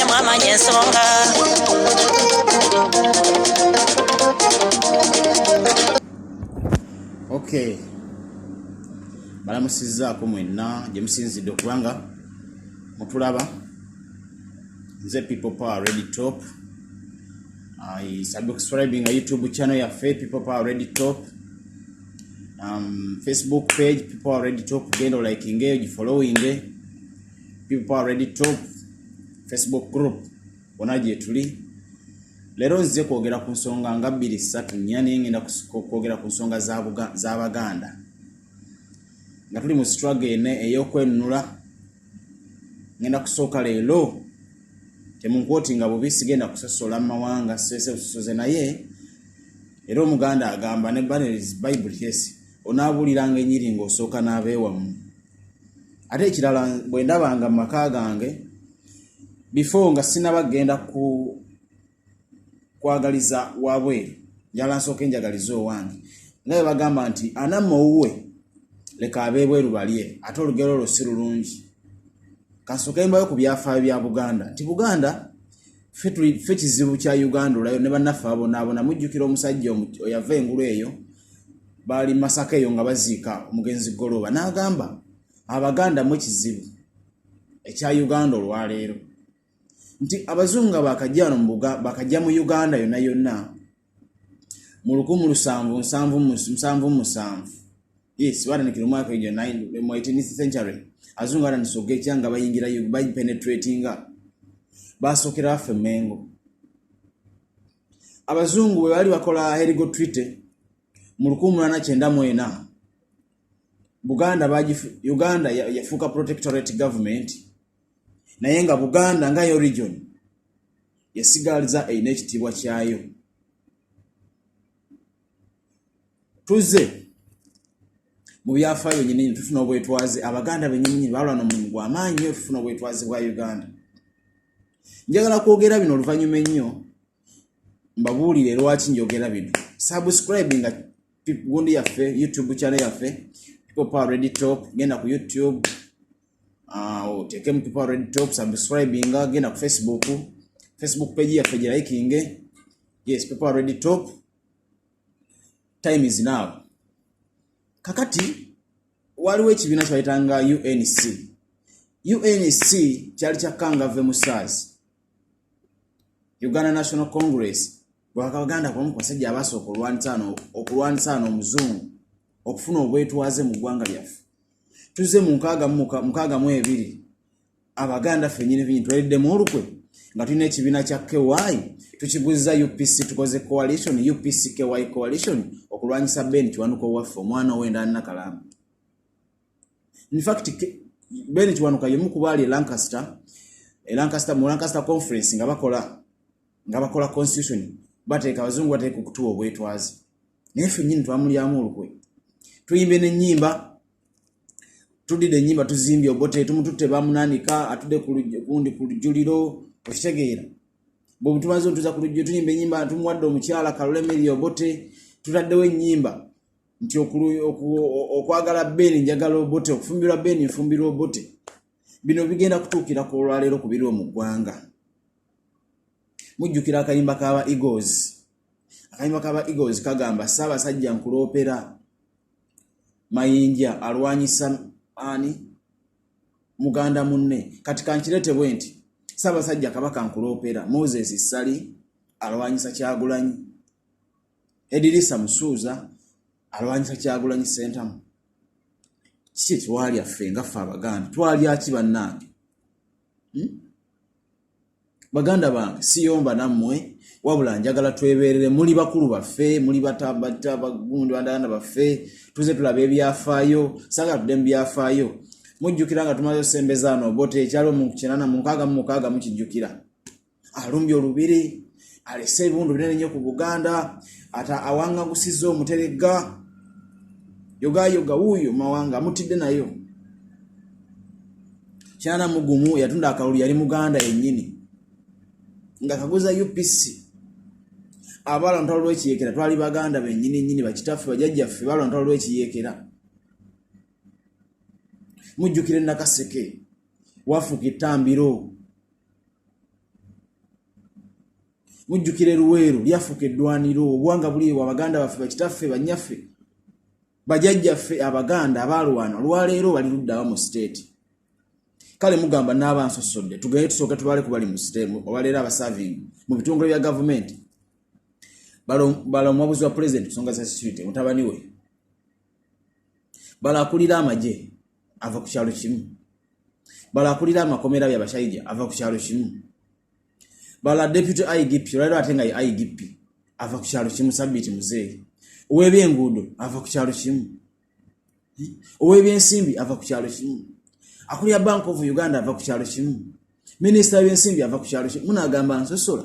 yamwamanya ensonga okay balamusizaako mwenna gye musinzidde okubanga mutulaba nze people power ready top i subscribing a youtube channel yaffe people power ready top um, facebook page people power ready top genda olakingeeyo gifollowinge people are ready to facebook group wona gyetuli leero nzize kwogera ku nsonga nga bbiri ssatu nnya naye ngenda kwogera ku nsonga z'abaganda nga tuli mu struggle ene ey'okwenunula ngenda kusooka leero temunkwoti nga bubi sigenda kusosola mu mawanga sese busosoze naye era omuganda agamba ne baneris bible yes onaabuliranga enyiri ng'osooka n'abeewamu ate ekirala bwe ndabanga mu maka gange before nga sinaba kugenda ku kwagaliza wabweru njala nsooka enjagaliza owange nga bwe bagamba nti anamma owuwe leka abeebweru balye ate olugero olwo si lulungi kansooka embayo ku byafaayo bya buganda nti buganda fe kizibu kya uganda olayo ne banaffe abonaabona mujjukira omusajja oyava engulu eyo baali masaka eyo nga baziika omugenzi goloba n'agamba abaganda mu kizibu ekya uganda olwaleero nti abazungu nga bakajja mu uganda yonna yonna mu lukumu lusanvu nsanvu musanvu musanvu yes batandikira omwaka egyo mu 18th century azungu atandisoka ekya nga bayingira bapenetratinga basookera baffe mengo abazungu bwe baali bakola herigo twite mu lukumu mulana kyenda mu ena buganda uganda yafuuka protectorate government naye nga buganda nga yo region yesigaliza erina ekitiibwa kyayo tuze mu byafaayo nyinini tufuna obwetwaze abaganda benyininyini balwa nomulimu gwamaanyi nyo tufuna obwetwaze bwa uganda njagala kwogera bino oluvannyuma ennyo mbabuulire lwaki njogera bino subscribe nga gundi yaffe youtube channel yaffe pipopa redi top genda ku youtube ah, otekemu pipopa redi top subscribe nga genda ku facebook facebook page yaffe girayikinge yes pipopa redi top time is now kakati waliwo ekibiina kyebayitanga unc unc kyali kya kangave musaazi uganda national congress bwakabaganda kubamu ku basajja abasooka okulwanisa ano omuzungu okufuna obwetwaze mu ggwanga lyaffe tuzze mu nkaaga mu ebiri abaganda fenyinefinyi twaliddemu olukwe nga tulina ekibiina kya ky tukiguzza upc tukoze coalition upc ky coalition okulwanyisa ben kiwanuka owaffe omwana owendalina kalamu in fact bene kiwanuka yemu kubali e Lancaster e Lancaster mu Lancaster conference nga bakola nga bakola constitution bateka wazungu bateka kutuwa obwetwazi naye ffe nyini twamulyamu olukwe tuyimbe n'ennyimba tudide ennyimba tuzimbye obote tumututte bamunanika atude kundi ku lujjuliro okitegeera bwebutumaze otuza ku lujjuliro tuyimba ennyimba tumuwadde omukyala kalule meri obote tutaddewo ennyimba nti okwagala beeni njagala obote okufumbirwa beeni nfumbirwa obote bino bigenda kutuukira ku olwaleero ku biriwo mu ggwanga mujjukira akayimba kaba egos akayimba kaba egos kagamba ssaabasajja nkuloopera mayinja alwanyisa ani muganda munne kati kankirete bwe nti ssaabasajja kabaka nkuloopera moses ssali alwanyisa kyagulanyi edirisa musuuza alwanyisa kyagulanyi sentamu kiki etwalya ffe nga ffe abaganda twalyaki bannange hmm? baganda bange siyomba nammwe wabula njagala tweberere muli bakulu baffe muli batabagundandaganda baffe tuze tulaba ebyafaayo sagala tudde mu byafaayo mujjukira nga tumaze osembezaano obote ekyaliwo mu kinana mu nkaaga mu mukaaga mukijjukira alumbye olubiri alese ebibundu binene nnyo ku buganda ata awangagusizza omuteregga yogayoga wuuyo mawanga amutidde nayo kyana mugumu yatunda akalulu yali muganda yennyini nga kaguza upc abaala lutalo lwekiyekera twali baganda benyini nyini bakitaffe bajajjaffe baala lutalo lwekiyekera mujjukire nakaseke wafuka ettambiro mujjukire luweero lyafuka eddwaniro obwanga buli ewa baganda baffe bakitaffe banyaffe bajajjaffe abaganda abaalwana olwaleero bali luddawa mu siteeti kale mugamba naaba nsosodde tugende tusooke tubale kubali mu siteemu olwaleero abasaving mu bitongole bya gavumenti bala omuwabuzi wa pulezidenti kusonga za security mutabani we bala akulira amagye ava ku kyalo kimu bala akulira amakomera bya bashaija ava ku kyalo kimu bala deputy igp olwaliro ate nga ye igp ava ku kyalo kimu sabiiti muzeeyi ow'ebyenguudo ava ku kyalo kimu ow'ebyensimbi ava ku kyalo kimu akulira bank of uganda ava ku kyalo kimu minisita w'ebyensimbi ava ku kyalo kimu munaagamba nsosola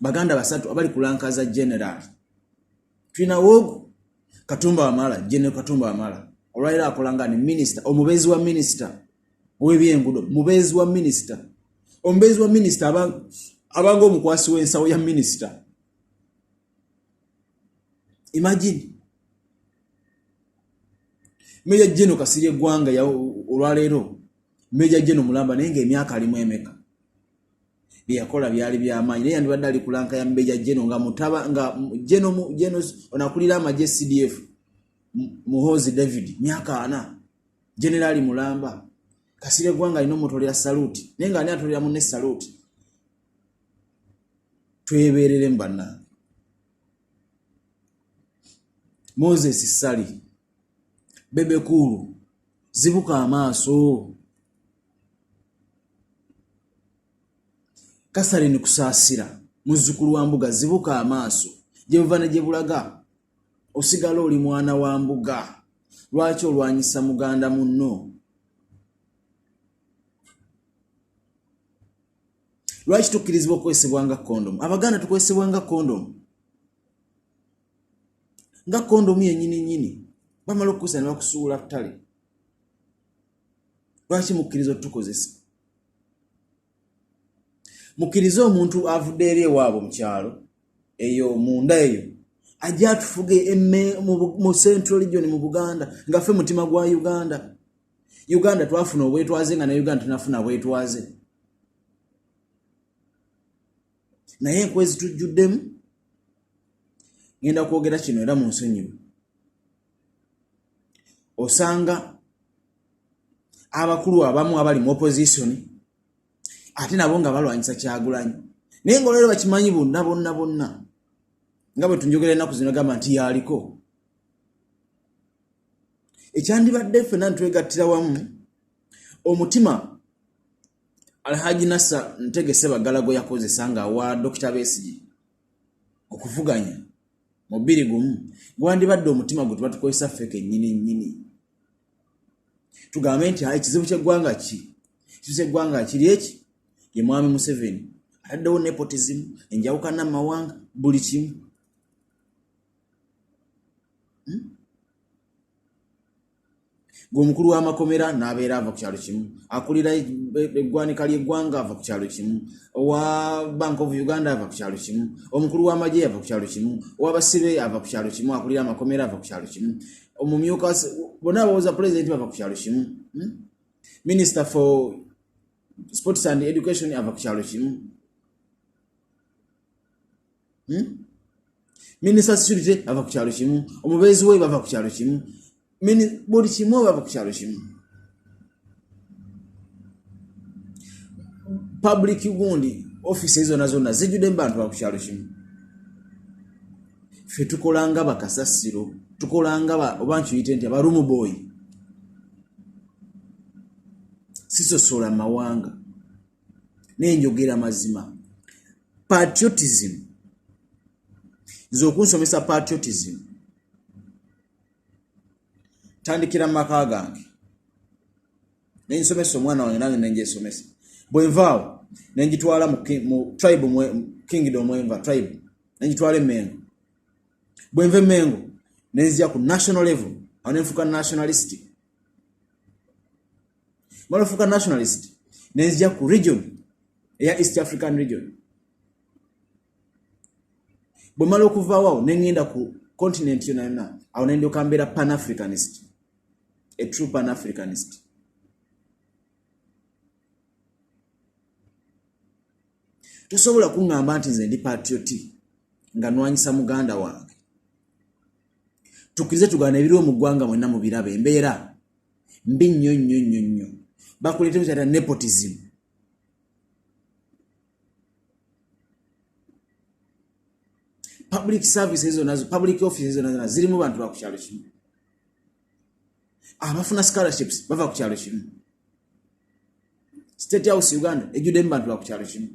baganda basatu abali kulankaza general tulina wogu katumba wamala general katumba wamala olwaliro akola nga ni minisita omubeezi wa minisita owebyengudo mubeezi wa minisita omubeezi wa minisita abanga omukwasi w'ensawo ya minisita imagine meja jeno kasirye eggwanga olwaleero meja jeno mulamba naye nga emyaka alimu emeka byeyakola byali byamaanyi naye yandibadde ali kulanka ya mbeja geno nga mutaba nga geno geno onakulira amagye cdf muhoozi david myaka ana generaali mulamba kasire gwanga alina omutolera saluti naye nga ani atolera mune saluti tweberere mu bannange moses sali bebekuulu zibuka amaaso Catherine Kusaasira muzzukulu wa Mbuga zibuka amaaso gye buva ne gye bulaga osigala oli mwana wa Mbuga lwaki olwanyisa muganda munno lwaki tukkirizibwa okukozesebwa nga kondomu abaganda tukozesebwa nga kondomu nga kondomu yenyini nyini bamala okukozesa ne bakusuula ttale lwaki mukkiriza otutukozesa mukkirize omuntu avudde eri ewaabo mu kyalo eyo munda eyo ajja atufuge mu central region mu buganda nga ffe mutima gwa uganda uganda twafuna obwetwaze nga ne uganda tunafuna bwetwaze naye enkwezi tujjuddemu ngenda kwogera kino era mu nsonyiwe osanga abakulu abamu abali mu opposition ate nabo nga balwanyisa kyagulanyi naye nga olwero bakimanyi bonna bonna bonna nga bwe tunjogera ennaku zino gamba nti yaliko ekyandibadde ffena ntwegattira wamu omutima alhaji nasa ntegese bagala gwe yakozesa nga awa dokita besigi okuvuganya mu bbiri gumu gwandibadde omutima gwe tubatukozesa ffe kennyini nnyini tugambe nti ayi kizibu kyeggwanga ki kizibu kyeggwanga kiri eki ye mwami museveni ataddewo nepotizimu enjawukana mumawanga buli kimu hmm? ng'omukulu w'amakomera n'abeera ava ku kyalo kimu akulira e, e, eggwanika ly'eggwanga ava ku kyalo kimu owa bank of uganda ava ku kyalo kimu omukulu w'amagye ava ku kyalo kimu owabasibe ava ku kyalo kimu akulira amakomera ava ku kyalo kimu omumyuka bona abawoza pulezidenti bava ku kyalo kimu hmm? minisita for sports and education ava ku kyalo kimu hmm? minisita security ava ku kyalo kimu omubeezi we bava ku kyalo kimu buli kimu bava ku kyalo kimu public gundi office zona zona zijjude mubantu ba ku kyalo kimu fe tukolanga bakasasiro tukolanga oba nkiyite nti abarumu boyi sisosola mawanga naye njogera mazima patriotism nze okunsomesa patriotism tandikira mu maka gange nensomesa omwana wange nange nenjesomesa bwenvaawo nenjitwala mu tribe kingdom enva tribe nenjitwala emengo bwenva emengo nenzija ku national level awo nenfuuka nationalistic balafuuka nationalist nenzija ku region eya east african region bwe mala okuvaawo awo nengenda ku continent yona yona awo nendyoka mbeera pan africanist a true pan africanist tosobola kuŋŋamba nti nze ndi patrioti nga nwanyisa muganda wange tukirize tugana ebiriwo mu ggwanga mwenna mu biraba embeera mbi nnyo nnyo nnyo nnyo bakuleetemu kyata nepotism public services zona public offices zona zona zirimu bantu ba ku kyalo kimu abafuna scholarships bava ku kyalo kimu state house uganda ejjuddemu bantu ba ku kyalo kimu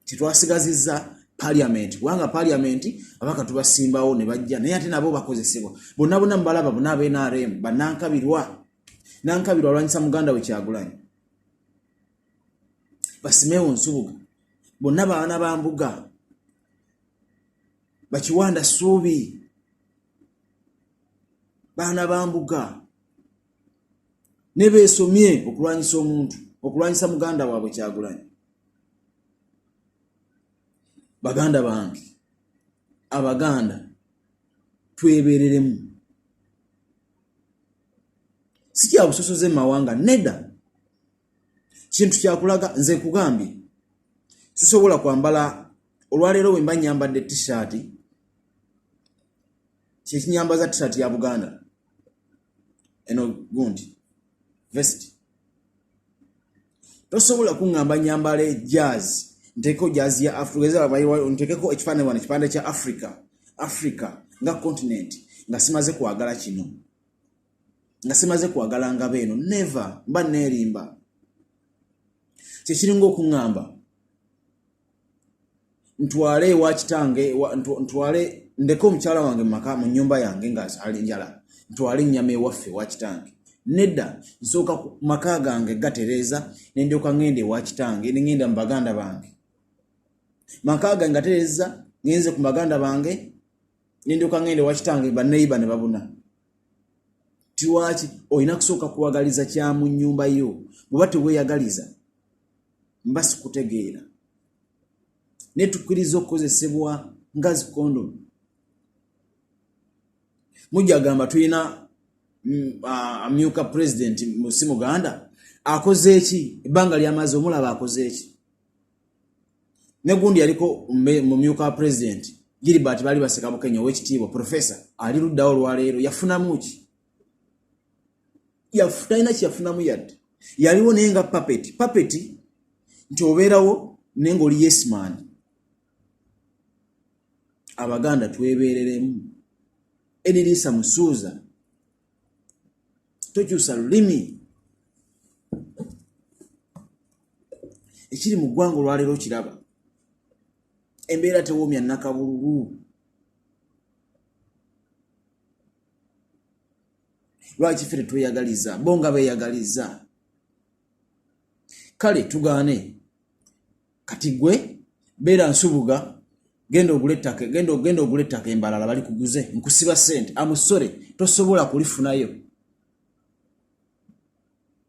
tetwasigazizza parliament kubanga parliament abaka tubasimbawo ne bajja naye ate nabo bakozesebwa bonna bonna mubalaba bona aba nrm banankabirwa nankabirwa alwanyisa muganda we kyagulanyi basimewo nsubuga bonna baana ba mbuga bakiwanda suubi baana ba mbuga nebeesomye okulwanyisa omuntu okulwanyisa muganda waabwe kyagulanyi baganda bange abaganda twebereremu sikyabusosoze mumawanga nedda kintu kyakulaga nze nkugambye sisobola kwambala olwaleero wemba nyambadde tishaati kyekinyambaza tishaati ya buganda eno gundi vest tosobola kuŋŋamba nyambala jazz nteekeko jazz ya afrikantekeko ekifaananyi wano ekipande kya africa africa nga continent nga simaze kwagala kino nga simaze kwagala ngaba eno neve mba neerimba kyekiringa okuŋŋamba ntwale ewa kitange ntwale ndeke omukyala wange mu maka mu nnyumba yange nga ali njala ntwale ennyama ewaffe ewa kitange nedda nsooka ku maka gange gatereeza ne ndyoka ŋŋenda ewa kitange ne ŋŋenda mu baganda bange maka gange gatereeza ŋenze ku baganda bange ne ndyoka ŋŋenda ewa kitange banneyiba ne babuna tiwaki olina kusooka kuwagaliza kya mu nnyumba yo bweba teweyagaliza mba sikutegeera naye tukkiriza okukozesebwa nga zikondomu mujagamba tulina mm, amyuka pulezidenti si muganda akoze eki ebbanga lyamaze omulaba akoze eki negundi yaliko mumyuka wa pulezidenti gilibert bali baseka bukenya owekitiibwa profesa ali luddawo olwaleero yafunamu ki talina kyeyafunamu yadde yaliwo naye nga papeti papeti nti obeerawo naye ngaoli yesman abaganda twebeereremu ediriisa musuuza tokyusa lulimi ekiri mu ggwanga olwaleero kiraba embeera tewoomya nakabululu lwaki ffe tetweyagaliza bo nga beyagaliza kale tugaane kati gwe beera nsubuga genda ogula ettaka genda ogenda ogula ettaka embalala bali kuguze nkusiba sente amusore tosobola kulifunayo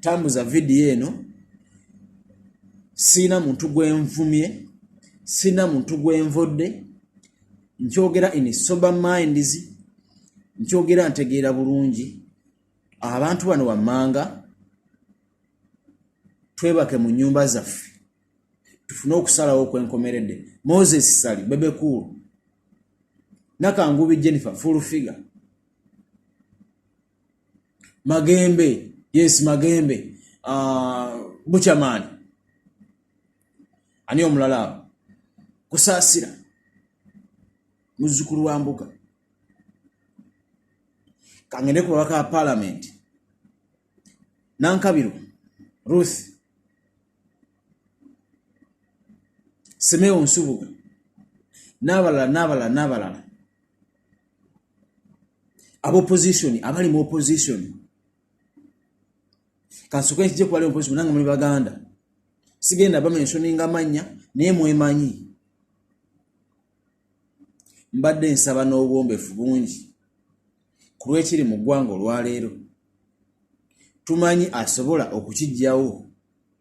tambuza vidiyo eno siina muntu gwenvumye siina muntu gwenvodde nkyogera in sober minds nkyogera ntegeera bulungi abantu bano wammanga twebake mu nyumba zaffe tufune okusalawo kwenkomeredde moses sali bebekuulu nakangubi jennifer full figure magembe yes magembe uh, buchamani ani omulala abo kusaasira muzzukulu wa mbuga kangende ku babaka ba palamenti nankabiro ruth semeo nsubuga n'abalala n'abalala n'abalala aba opposition abali mu opposition kansoke nkije kubali mu opposition nange muli baganda sigenda bamensioninga mannya naye mwemanyi mbadde nsaba n'obwombefu bungi ku lwekiri mu ggwanga olwaleero tumanyi asobola okukijjawo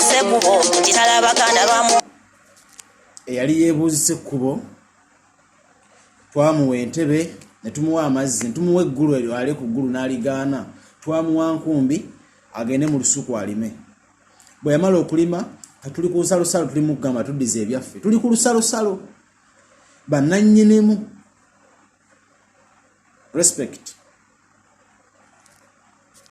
sekubo kitala baganda bamu eyali yebuuzi sekubo twamuwa entebe netumuwa amazzi netumuwa eggulu eryo ali ku ggulu n'aligaana twamuwa nkumbi agende mu lusuku alime bwe yamala okulima katuli ku lusalosalo tuli mukugamba tuddiza ebyaffe tuli ku lusalosalo bananyinimu respect